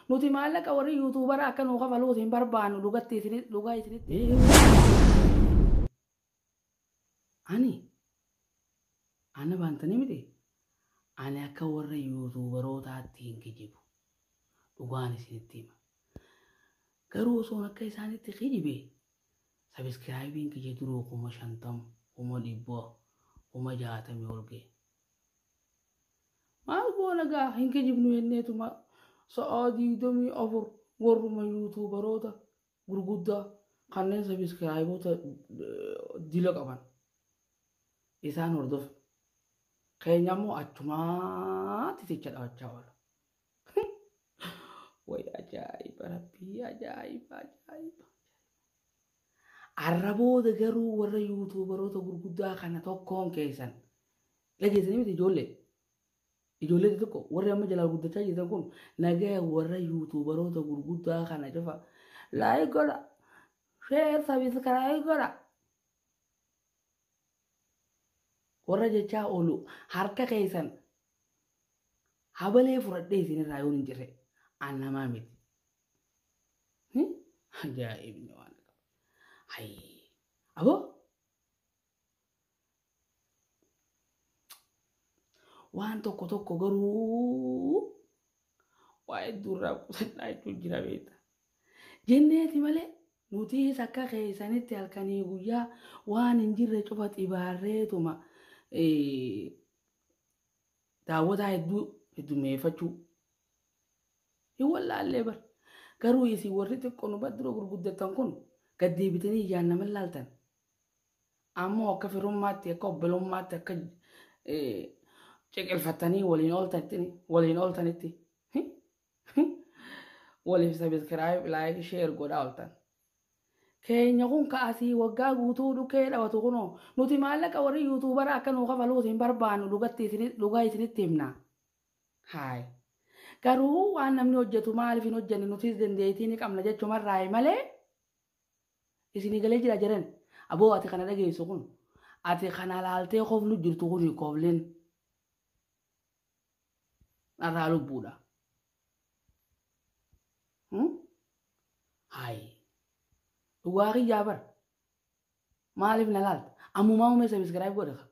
Nuti maallaqa warri yuutuubara akka nuu kafaluuti hin barbaannu dhugatti isini- dhugaa isinitti. Ani ana baantanii miti ani akka warra yuutuubarootaatti hin kijibu dhugaan isinitti hima. Garuu osoon akka isaanitti kijibe sabiskiraayibiin kiyya duruu kuma shantama kuma dhibba kuma jaatamii ol ga'e. Maal goona gaa hin kijibnu jenneetuma sa'aa digdamii afur warruma yuutuubaroota gurguddaa kanneen sabiskiraayiboota dila qaban isaan hordofna. Keenya immoo achumaatti ticha dhaabachaa oola. Way ajaa'iba rabbii ajaa'iba ajaa'iba. Arra booda garuu warra yuutuubaroota gurguddaa kana tokkoon keessan Dhageessanii miti ijoollee. Ijoollee xixiqqoo warri amma jalaa guddachaa jirtan kun nagaya warra yuutuubaroota gurguddaa kana cufa laayik godha sheer sabiskiraayib godha warra jechaa oolu harka keessan habalee fudhadhee isinirraa yoon hin jirre an namaa miti. Hi? Ajaa'ibni waan qaba. Hayi. Aboo Waan tokko tokko garuu waa hedduu irraa qusannaa jechuun jira beekta. Jenneeti malee nutiis akka keessanitti halkanii guyyaa waan hin jirre cufa xibaarreetuma eh, daawwataa hedduu heddummeeffachuu hin wallaallee bar. Garuu isin warri xiqqoo nu bira dura gurguddattan kun gad deebitanii ijaan nama hin laaltan. Ammoo akka firummaatti akka obbolummaatti akka ciqilfattanii waliin ooltanitti waliin ooltanitti waliif sabiskiraayib laayik sheer godhaa ooltan. Keenya kun ka'asii waggaa guutuu dhukkee dhawatu kunoo nuti maallaqa warri yuutuubara akka nuu kafaluuti hin barbaannu dhugaa isinitti himna. Haay. Garuu waan namni hojjetu maaliif hin hojjenne nutis dandeettii ni qabna jechumarraa malee Isinii galee jira jaren. Aboo ati kana dhageessu kun ati kana laaltee koflu jirtu kun koflin narraa lubbuudha. Hayi dhugaa kiyyaa bar maaliif na laalta ammumaa umee sabiskiraayib godha ka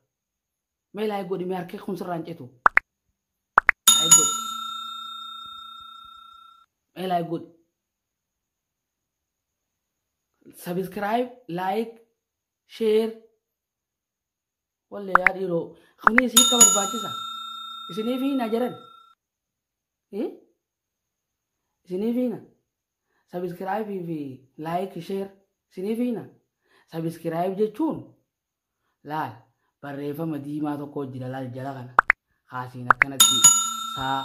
mee laayik godhi mee harkee kun sirraan cetu laayik godhi mee laayik godhi. Subscribe, like, share. Wallee yaa dhiiroo kuni isii akka barbaachisa. Isiniif hiina jedhan. Eh? Isiniif hiina. Subscribe fi like, share. Isiniif hiina. Subscribe jechuun laal barreeffama diimaa tokko jira laal jala kana. Kaasiin akkanatti saa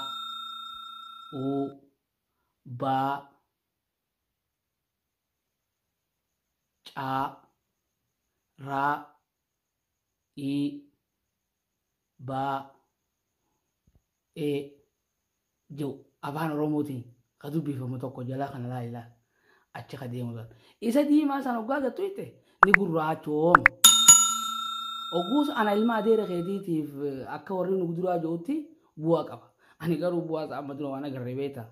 uu baa caa raa ii baa ee jedhu afaan oromootiin ka dubbifamu tokko jalaa kana laa ilaal Achi ka deemu san. Isa diimaa san hoggaa agartu jette ni gurraachooma. Ogguus ana ilma adeera keetiitiif akka warri nu duraa jirutti bu'aa qaba. Ani garuu bu'aa isaa amma dura waan agarre beekta.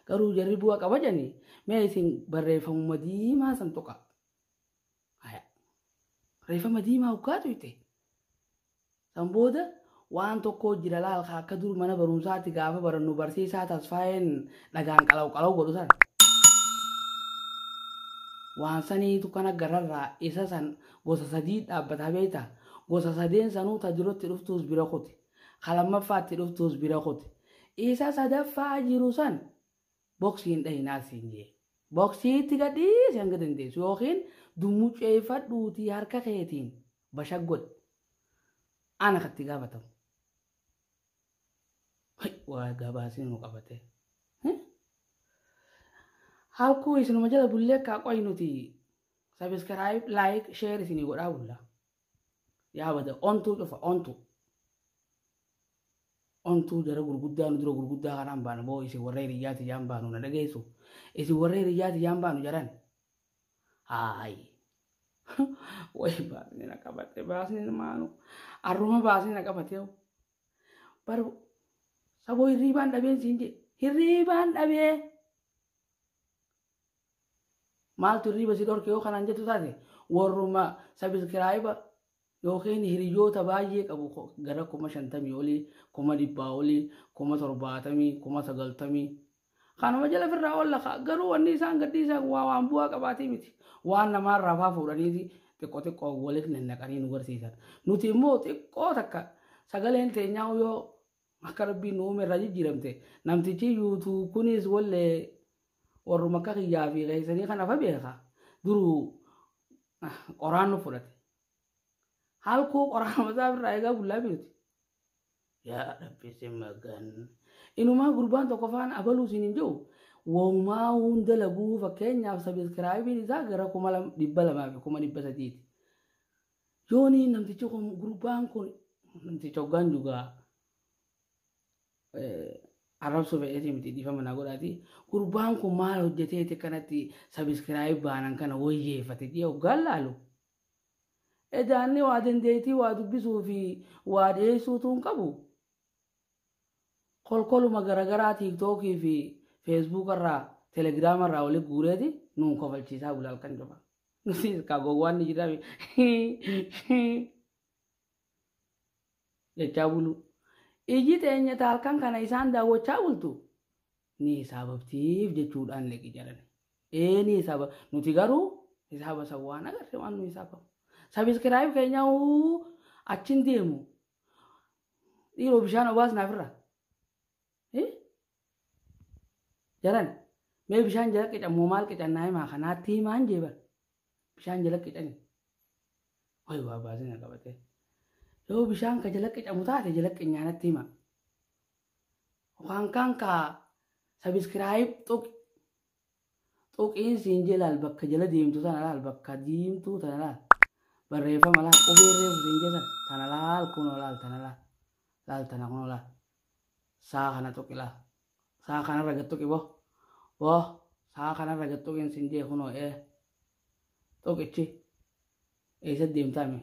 Garuu jarri bu'aa qaba jedhanii mee isin barreeffamuma diimaa san tuqaa. Haya. Reeffama diimaa hoggaa tuyxe. San booda waan tokko jira laalka akka dur mana barumsaatti gaafa barannu barsiisaa tasfaayeen dhagaan qalaw qalaw godhu sana. Waan saniitu kan agarrarraa isa san gosa sadii dhaabbata beekta. Gosa sadeen sanuu ta duratti dhuftuus bira kuti. Ka lammaffaatti dhuftuus bira kuti. Isa sadaffaa jiru san boksii hin dhahinaas siin jee. Boksii itti gadhiisi hanga dandeessu yookiin dummucceeffadhuutii harka keetiin bashag godhi. Ana katti gaafatamu. Hai, Waa gabaasni nu qabatee. Halkuu isinuma jala bullee kaa qoy nuti sabiskiraayib, laayik, sheer isinii godhaa bulla. yaa bada ontuu cufa ontuu ontuu jara gurguddaa nu dura gurguddaa kanaan baana boo isin warra hiriyyaa tiyyaan baanu na dhageessu isin warra hiriyyaa tiyyaan baanu jaran haayi way baasni na qabate baasni maanu arruma baasni na qabate bar saboo hirriibaan dhabeen siin jedhe hirriibaan dhabee Maaltu hirriiba si dhorke yoo kanaan jettu taate warruma sabiskiraayiba yookiin hiriyoota baay'ee qabu gara kuma shantamii olii, kuma dhibbaa olii, kuma torbaatamii, kuma sagaltamii. Kanuma jala firraa olla ka'a. Garuu wanni isaan gadhiisan waa waan bu'aa qabaatii miti. Waan namaarraa faa fuudhaniiti xiqqoo xiqqoo waliif nannaqanii nu garsiisan. Nuti immoo xiqqoo takka sagaleen teenyaa yoo Akka rabbiin nu uume irraa jijjiiramte namtichi yuutuub kunis wallee warruma akka kiyyaa fi keessanii kan afa beeka duruu ah, qoraan nu fudhate. Halkuu qoraan mataa irraa eegaa bullaa biirti. Yaa rabbi si magan. Inumaa gurbaan tokko faana abaluu siin hin jiru. Woomaa hunda laguu fakkeenyaaf sabiskiraayibiin isaa gara kuma lam- dhibba lamaa fi kuma dhibba sadiiti. Yooni namtichi kun gurbaan kun namticha hoggaan jugaa arrabsuu fedheetii miti dhiifama naa godhaati. Gurbaan kun maal hojjeteeti kanatti sabiskiraayib baanan kana wayyeeffate jee hoggaan laalu. Edaanni waa dandeettii waa dubbisuu fi waa dhiyeessuutu hin qabu. Kolkoluma garagaraa tiiktookii fi feesbuukarraa telegiraamarraa walitti guureeti nuun kofalchiisaa bula halkan cufa. Ka gowwaan ni jiraame. Jechaa buluu. Iji teenya taalkan kana isaan daawwachaa bultu ni hisaabamtiif jechuudhaan leqi jedhan. Ee ni hisaaba. Nuti garuu hisaaba san waan agarre waan nu hisaabamu. Sabiskiraayib keenya huu achin deemu. Dhiiroo bishaan obaas naafirra. Eh? Jaran, mee bishaan jala qican moo maal qican naa himaa kanaatti himaan jee bar. Bishaan jala qicani. Wayi waa baasina qabatee. Yoo bishaan ka jala qicamu taate jala qinyaanatti hima. Waan kaan ka sabiskiraayib tuqi. Xuqiin siin jee laal bakka jala deemtu tana laal bakka diimtuu tana laal. Barreeffama laal qubee reefu siin jee sana tana laal kunoo laal tana laal. Laal tana kunoo laal. Saa kana tuqi laal. Saa kanarra gad tuqi boo. Boo saa kanarra gad tuqiin siin jee kunoo ee. Tuqichi eessa deemtaa mee?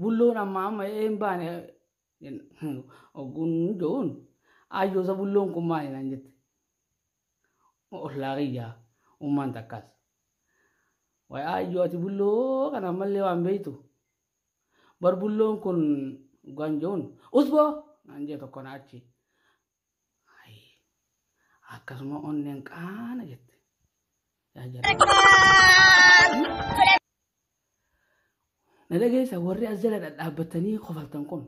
Bulloon amma amma een baane ogguun jo'uun ayyoosa bulloon kun maali naan jette. Ollaa kiyyaa ummaan takkaas. Wayi ayyoo ati bulloo kana ammallee waan beektu. Bar bulloon kun oggaan jo'uun usboo naan jee tokko na achi. Ayi. Akkasuma onneen qaana jette. Yaa jala. Na dhageessa warri as jala dhadhaabbattanii kofaltan kun.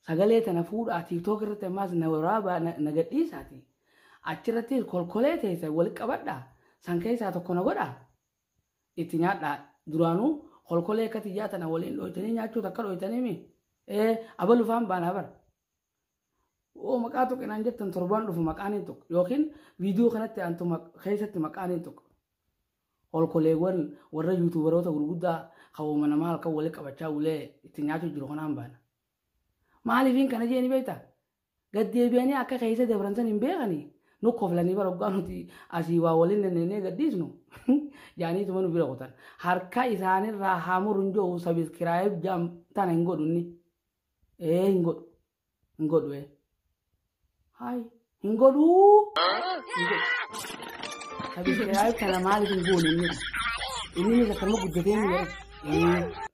Sagalee tana fuudhaa tiiktook irratti ammaas na waraabaa na na gadhiisaati. Achirratti kolkolee teessa wal qabadhaa. San keessaa tokko na godhaa. Itti nyaadhaa. Duraanuu kolkolee akka tiyyaa tana waliin dhooytanii nyaachuu takka dhooytanii mi? Ee abalufaan baanaa bara. oo maqaa tuqe naan jettan torbaan dhufu maqaa niin tuqa yookiin viidiyoo kanatti aantu maq- keessatti maqaa niin tuqa olkoleewwan warra yuutuubaroota gurguddaa qabooma namaa halkan wali qabachaa ulee itti nyaachuu jiru kanaan baana maaliifiin kana jeeni beektaa gaddeebi'anii akka keessa dabran san hin beekanii nu koflanii bara oggaa nuti asii waa waliin nanneenee gadhiisnu jaaniituma nu bira kutan harka isaanirraa haa murun jedhu sabiskiraayib jaam tana hin godhunni Ee hin godhu. Hin godhu ee. Haay hin godhu. Hin godhu. Abishee haay kana maaliif hin goone inni? Inni ni akkama guddatee ni jedhu.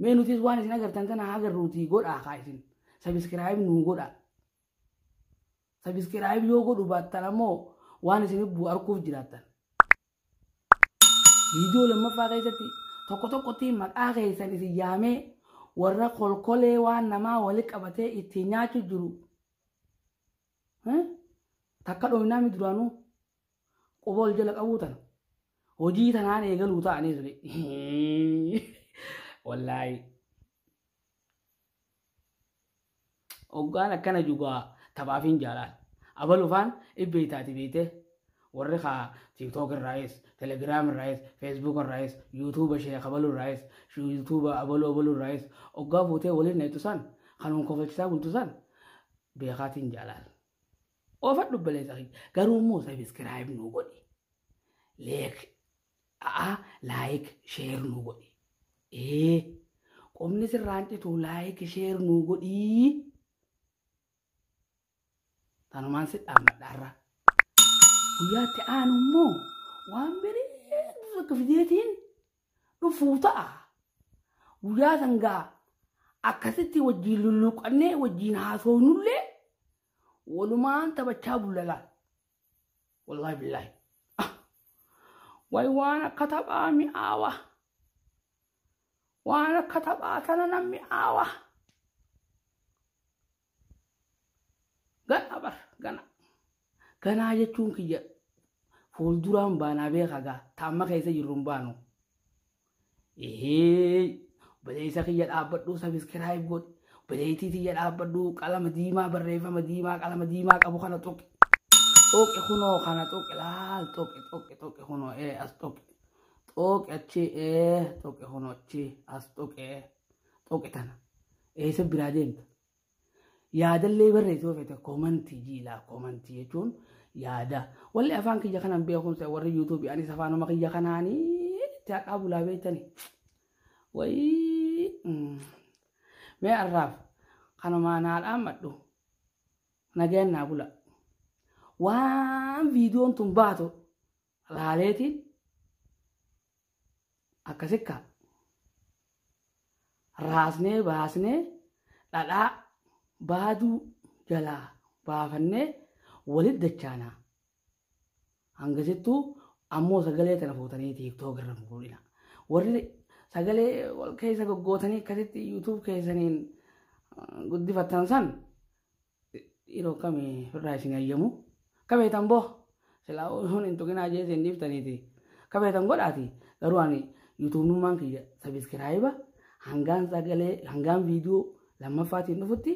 Mee nutis waan isin agartan kana haa agarruutii godhaa haa isin. Sabiskiraayib nuu godhaa. Sabiskiraayib yoo godhu baattan ammoo waan isin arguuf jiraattan. Viidiyoo lammaffaa keessatti tokko tokkotti maqaa keessan isin yaamee warra kolkolee waan namaa wali qabatee ittiin nyaachu jiru. Takka dhoofnaa mi duraanuu quba ol jala qabuu tana. Hojii tanaan eegaluu ta'anii suni. Wallaahi. Hoggaan akkana jugaa taphaafin jaalaan. Abalu faan ibbee taati beeytee warri kaa tiktok irraayis telegram irraayis facebook irraayis youtube ishee kabalu irraayis youtube abalu abalu irraayis oggaa fuutee waliin neetu san kanuun kofalchisaa bultu san beekaatiin jaalaan. Oofadhu baleessa kiyya garuu immoo sabiskiraayib nuu godhi. Leek A'aa like share nuu godhi. Ee qomni sirraan citu like share nuu godhii. Tanumaan si dhaammadha har'a. Guyyaatti aanu immoo waan bareedu tokko fideetiin dhufuu ta'a. Guyyaa sangaa akkasitti wajjin lulluuqqannee wajjin haasoonullee walumaan taphachaa bullala. Wallahi billahi. Ah. Way waan akka taphaa mi'aawa. Waan akka taphaa tana nan mi'aawa. Gana bar gana. Ganaa jechuun kiyya fuulduraan baanaa beeka gaa taamma keessa jirru hin baanu. Ehee obboleessa kiyya dhaabbadhuu sabiskiraayib godhi. Obboleettii tiyya dhaabbadhuu qalama diimaa barreeffama diimaa qalama diimaa qabu kana tuqi. Tuqi kunoo kana tuqi laal tuqi tuqi tuqi kunoo ee as tuqi. Tuqi achi ee tuqi kunoo achi as tuqi ee tuqi tana. Eessa biraa deemta? Yaadallee barreessi yoo feete koomantii jiilaa koomantii jechuun yaada. Walli afaan kiyya kanan beekumsa warri yuutuubii anis afaanuma kiyya kanaanii itti haqaa bulaa beektani. Wayii mee arraaf kanumaan haa dhaammadhu nagayaan naa bula. Waan viidiyoon tun baatu laaleeti akkasi kaa raasnee baasnee dhadhaa baaduu jalaa baafannee walit dachaanaa hangasittuu ammoo sagalee tana fuutanii tiiktook irra muudina warri sagalee wal keessa goggootanii akkasitti yuutuub keessaniin guddifattan san Dhiiroo kami firraa isin hayyamu. Kabeetan boo silaa hun hin tuqinaa jee isin dhiiftaniiti. Kabeetan godhaati garuu ani yuutuubnummaan kiyya sabiskiraayiba hangaan sagalee hangaan viidiyoo lammaffaatiin dhufutti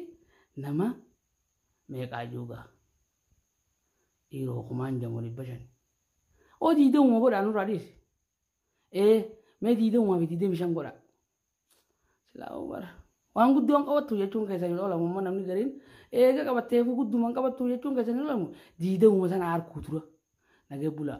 nama meeqaa juugaa. Dhiiroo kumaan jamoo dhibba shan. Oo diidamuma godhaa nurraa dhiisi. Ee mee diidamuma fi diidami shan godhaa. Silaa Umar waan guddoon qabattu jechuun keessa hin oolamu amma namni gariin eega qabatteefuu gudduman qabattu jechuun keessa hin oolamu diidamuma sana harkuu tura nagee bulaa.